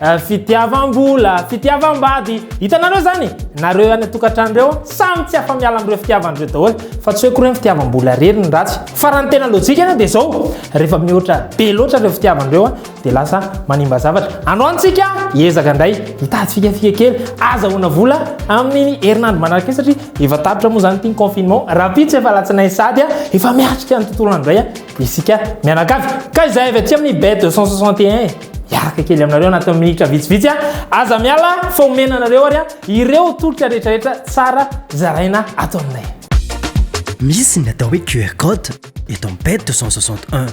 Eh, fitiavam-bola, fitiavam-bady, hitanareo zany? Nareo any an-tokantrano reo samy tsy afa-miala amin'ireo fitiavany reo daholo, fa tsy hoe koa reo ny fitiavam-bola rery ny ratsy. Fa raha ny tena lojika anie dia zao, rehefa mihoatra be loatra ireo fitiavany reo an, dia lasa manimba zavatra. Androany tsika hiezaka indray hitady fikafika kely azahoana vola amin'ny herinandro manaraka iny satria efa tapitra moa zany ity ny confinement, rahampitso efa alatsinainy sady an, efa miatrika ny tontolo andro indray an, isika mianakavy. Ka izay avy aty amin'ny bet 261 e. hiaraka kely aminareo anaty minitra vitsivitsy a aza miala fa omena anareo ary a ireo tolotra rehetrarehetra tsara zaraina ato aminay misy ny atao hoe qr code eto am pet 261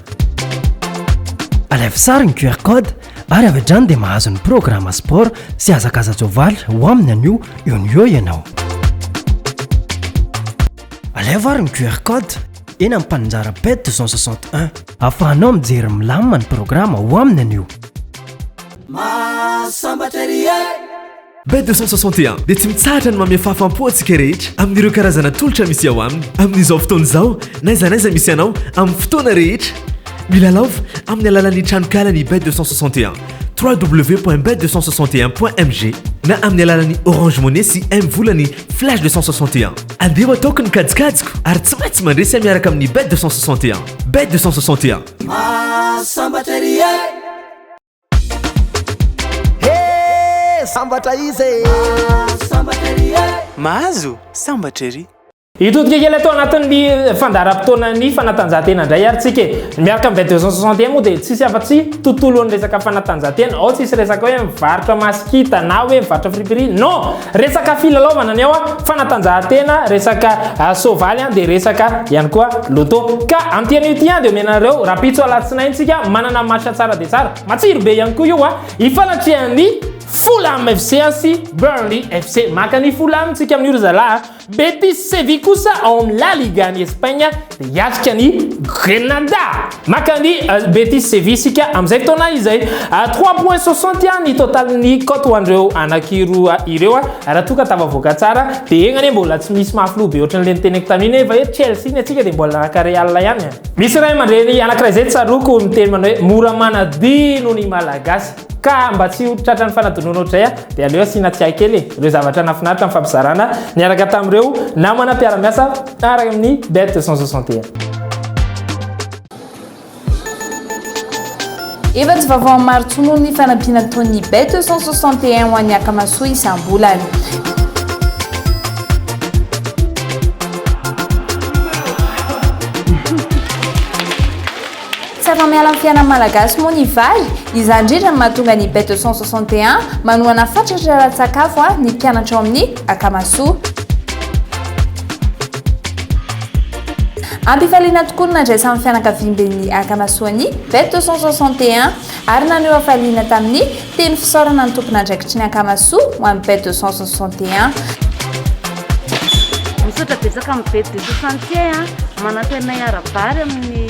alaivo sary ny qr code ary avy adrany dia mahazo ny programme sport sy azakaza jovaly ho aminy anio eo ny eo ianao alaivo ary ny qr code eny amin'ny mpaninjara pet 261. Afahanao mijery milamina ny programa ao aminy anio. Mahasambatra ery e! Bet 261 dia tsy mitsahatra ny manome fahafaham-po antsika rehetra amin'ireo karazana tolotra misy ao aminy. Amin'izao fotoana izao, n'aiza n'aiza misy anao, amin'ny fotoana rehetra. Milalao amin'ny alalan'ny tranonkalan'i Bet 261, www.bet261.mg, na amin'ny alalan'ny Orange Money sy M-Volany. Flash 261. Andeha ho ataoko ny kajikajiko ary tsy maintsy mandresy ahy miaraka amin'ny Bet 261. Bet 261. Mahasambatra ery e! He! Sambatra izy e! Mahasambatra ery e! Mahazo sambatra ery! Hitodika kely atao anatin'ny fandaharam-potoanan'ny fanatanjahantena indray ary tsika e. Miaraka amin'ny Bet 261 moa dia tsisy afa-tsy tontolon'ny resaka fanatanjahantena. Ao tsisy resaka hoe mivarotra masikita na hoe mivarotra friperie. Non! Resaka filalaovana ny ao a, fanatanjahantena, resaka soavaly a, dia resaka ihany koa loto. Ka amin'ity anio ity a, dia omena anareo rahampitso alatsinainy tsika manana match tsara dia tsara. Matsiro be ihany koa io a, hifanatrehan'ny Fulham FC sy Burnley FC. Maka an'i Fulham tsika amin'io ry zalahy a. Betis Sevilla kosa ao amin'ny La Liga any Espaina dia hiatrika ny Grenada. Maka ny Betis Sevilla isika amin'izay taona izay. Trois points sur cent ihany ny totalin'ny cote ho an'ireo anankiroa ireo raha toa ka tafavoaka tsara. Dia egna anie mbola tsy misy mahafiloha be ohatran'ilay niteneko tamin'iny hoe efa eo Chelsea ny antsika dia mbola araka Real ihany. Misy ray aman-dreny anankiray izay tsaroako niteny manao hoe mora manadia noho ny Malagasy. Ka mba tsy ho tratran'ny fanadinoana ohatr'izay aho dia aleo asiana tsiahy kely e, ireo zavatra nahafinaritra nifampizarana niaraka tamin'ireo namana mpiara-miasa ary amin'ny Bet 261. Efa tsy vaovao amin'ny maro intsony moa ny fanampiana ataon'ny Bet 261 ho an'ny Akamasoa isam-bolana. Tsy afa-miala amin'ny fiainan'ny Malagasy moa ny vary. Izany indrindra no mahatonga ny Bête de 161 manohana fatratra ara-tsakafo ny mpianatra ao amin'ny Akamasoa. Am-pifaliana tokoa no nandraisan'ny fianakaviamben'ny Akamasoa ny Bête de 161 ary naneho hafaliana tamin'ny Teny fisaorana ny tompon'andraikitry ny Ankamasoa ho an'ny bet 261. Misaotra betsaka amin'ny bet 261 manampy anay ara-bary amin'ny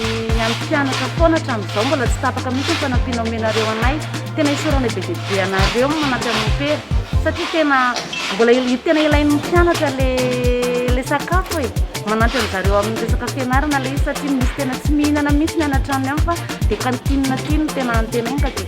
amin'ny mpianatra foana hatramin'izao mbola tsy tapaka mihitsy ny fanampiana omenareo anay. Tena isaoranay be dia be anareo no manampy amin'ny pera satria tena mbola il- tena ilain'ny mpianatra le le sakafo e. Manampy an'zareo amin'ny resaka fianarana le izy satria misy tena tsy mihinana mihitsy ny any an-tranony any fa dia cantine aty no tena antenainy ka dia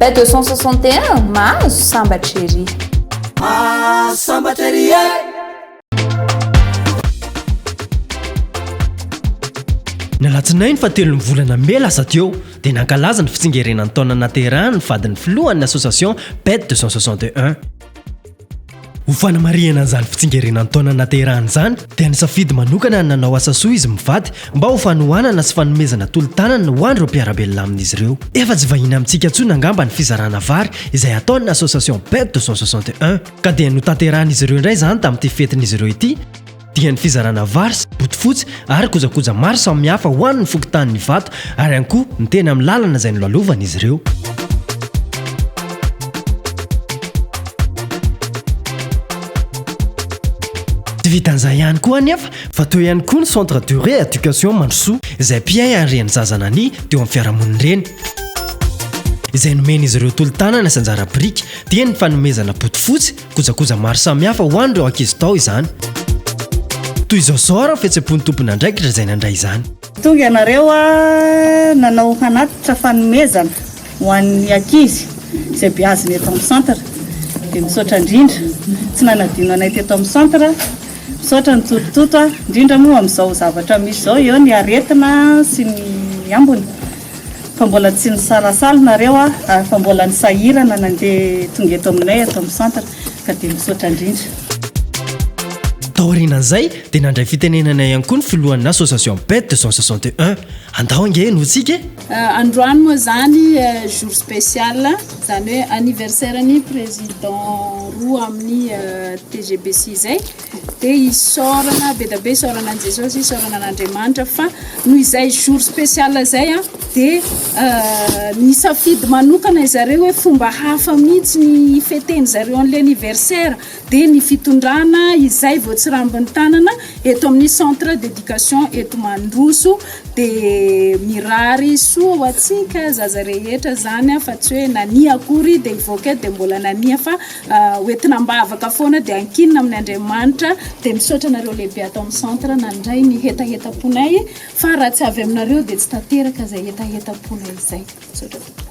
Bête 261 mahazo sambatra ery. Mahazo sambatra ery e. Ny alatsinainy fa telo ny volana mey lasa teo dia nankalaza ny fitsingerenan'ny taona nahaterahan'ny vadin'ny filohan'ny association Bête 261. Ho fanamarihana an'izany fitsingerenan'ny taona nahaterahany izany dia nisafidy manokana ny nanao asa soa izy mivady mba ho fanohanana sy fanomezana tolo-tanana ho an'ireo mpiara-belona amin'izy ireo. Efa tsy vahiny amintsika intsony angamba ny fizarana vary izay ataon'ny Association Ped 261 ka dia notanterahin'izy ireo indray izany tamin'ity fetin'izy ireo ity, dia ny fizarana vary sy bodofotsy ary kojakoja maro samihafa ho an'ny fokontanin'i Ivato ary ihany koa ny teny amin'ny lalana izay nolalovan'izy ireo. Tsy vitan'izay ihany koa anefa fa teo ihany koa ny Centre de Rééducation Mandrosoa izay mpiahy ary reny zaza nania teo amin'ny fiarahamonin'ireny izay nomen'izy ireo tolo-tanana sy anjara biriky dia ny fanomezana bodofotsy Kojakoja maro samihafa ho an'ireo ankizy tao izany. Toy izao izao ary ny fihetsem-pon'ny tompon'andraikitra izay nandray izany. Tonga ianareo nanao hanatitra fanomezana ho an'ny ankizy izay beazina eto amin'ny centre. Dia misaotra indrindra tsy nanadino anay teto amin'ny centre. Misaotra ny Toto Toto indrindra moa amin'izao zavatra misy izao eo ny aretina sy ny ambiny. Fa mbola tsy nisalasala nareo a ary fa mbola nisahirana nandeha tonga eto aminay ato amin'ny centre ka dia misaotra indrindra. Taorianan'izay dia nandray fitenenana ihany koa ny filohan'ny association Bed deux cent soixante et un. Andao ange no hitsiky e! Androany moa izany jour spécial, izany hoe anniversaire-n'ny président roa amin'ny tgb sy izay. Dia isaorana be dia be, isaorana an'i Jesosy, isaorana an'Andriamanitra fa noho izay jour spécial izay a, dia nisafidy manokana ry zareo hoe fomba hafa mihitsy ny hi-feter-ndry zareo an'ilay anniversaire, dia ny fitondrana izay voatsirambin'ny tanana eto amin'ny centre d'éducation eto Mandroso, dia mirary soa ho antsika zaza rehetra izany fa tsy hoe nania akory dia hivoaka eto dia mbola nania fa, ho entina am-bavaka foana dia ankinina amin'ny Andriamanitra dia misaotra anareo lehibe ato amin'ny centre nandray ny hetahetam-ponay fa raha tsy avy aminareo dia tsy tanteraka izay hetahetam-ponay izay misaotra tompoko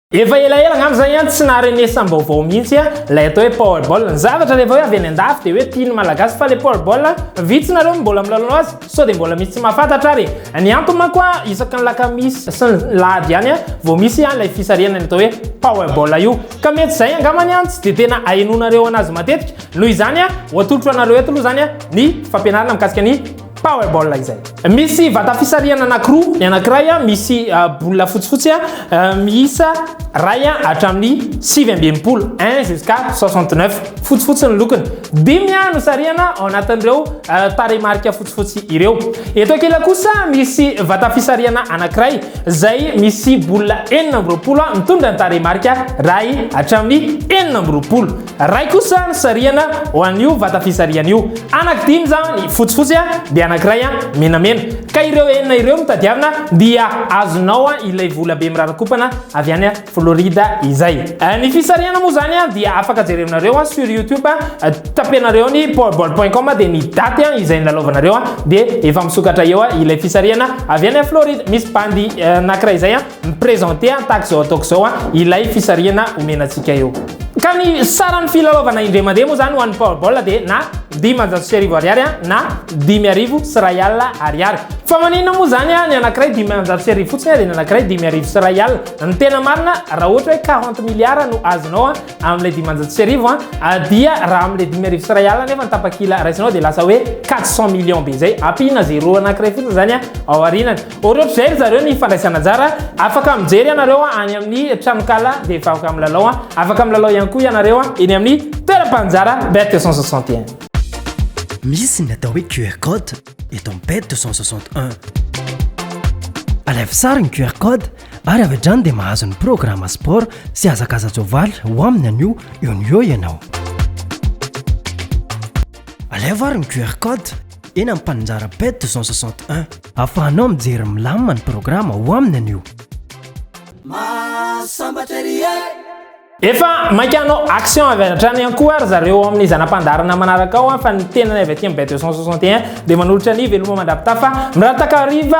Efa elaela angamba zany an tsy naharenesam baovao mihitsy a lay atao hoe powerball. Ny zavatra rehefa hoe avy any andafy dia hoe tian'ny malagasy fa le powerball a vitsy nareo no mbola milalao azy sao dia mbola misy tsy mahafantatra ary e. Ny antony manko a isaky ny lakamisy sy ny lahady ihany a vao misy a lay fisarihana ny atao hoe powerball io ka mety zay angamany an tsy dia tena ahenoanareo anazy matetika. Noho izany a ho atolotro anareo eto aloha zany a ny fampianarana mikasika ny Powerball izay. Misy vata fisarihana anankiroa, ny anankiray misy bola fotsifotsy miisa iray hatramin'ny sivy amby enimpolo, 1 jusqu'à 69, fotsifotsy ny lokony. Dimy no sarihana ao anatin'ireo tarehimarika fotsifotsy ireo. Eto ankila kosa misy vata fisarihana anankiray izay misy bola enina amby roapolo mitondra ny tarehimarika iray hatramin'ny enina amby roapolo. Ray kosa ny sarihana ho an'io vata fisarihana io. Anaky dimy izany fotsifotsy dia anankiray menamena. Ka ireo enina ireo no tadiavina dia azonao ilay vola be mirarakopana avy any Florida izay. Ny fisarihana moa izany dia afaka jerevinareo sur youtube. Tapenareo ny powerball point com dia ny daty izay nilalaovanareo dia efa misokatra eo ilay fisarihana avy any Florida. Misy bandy anankiray izay Mi-presenter aho tahaka izao ataoko izao ilay fisarihana omena antsika eo. Ka ny saran'ny filalaovana indray mandeha moa izany ho an'ny Powerball dia na dimanjato sy arivo ariary na dimy arivo sy iray alina ariary. Fa maninona moa izany ny anankiray dimanjato sy arivo fotsiny dia ny anankiray dimy arivo sy iray alina? Ny tena marina raha ohatra hoe quarante milliards no azonao amin'ilay dimanjato sy arivo dia raha amin'ilay dimy arivo sy iray alina nefa ny tapakila raisinao dia lasa hoe quatre cent millions be izay. Ampiana zéro anankiray fotsiny izany ao aorianany. Ohatrohatr'izay ry zareo ny fandraisana anjara, afaka mijery ianareo any amin'ny tranonkala dia vaoka milalao, afaka milalao ihany koa ianareo eny amin'ny toeram-panjara Bet 261. Misy ny atao hoe QR code eto amin'ny Bet 261. Alaivo sary ny QR code ary avy hatrany dia mahazo ny programa sport sy hazakaza-tsoavaly ho aminy anio eo no eo ianao. Alaivo ary ny QR code. eny amin'ny mpaninjara pet 261. Ahafahanao mijery milamina ny programa ao aminy anio. Mahasambatra ery e! Efa maika hanao action avy hatrany ihany koa ry zareo ao amin'ny zana-pandaharana manaraka ao fa ny tenany avy aty amin'ny bet 261 dia manolotra ny veloma mandrapitafa mirataka hariva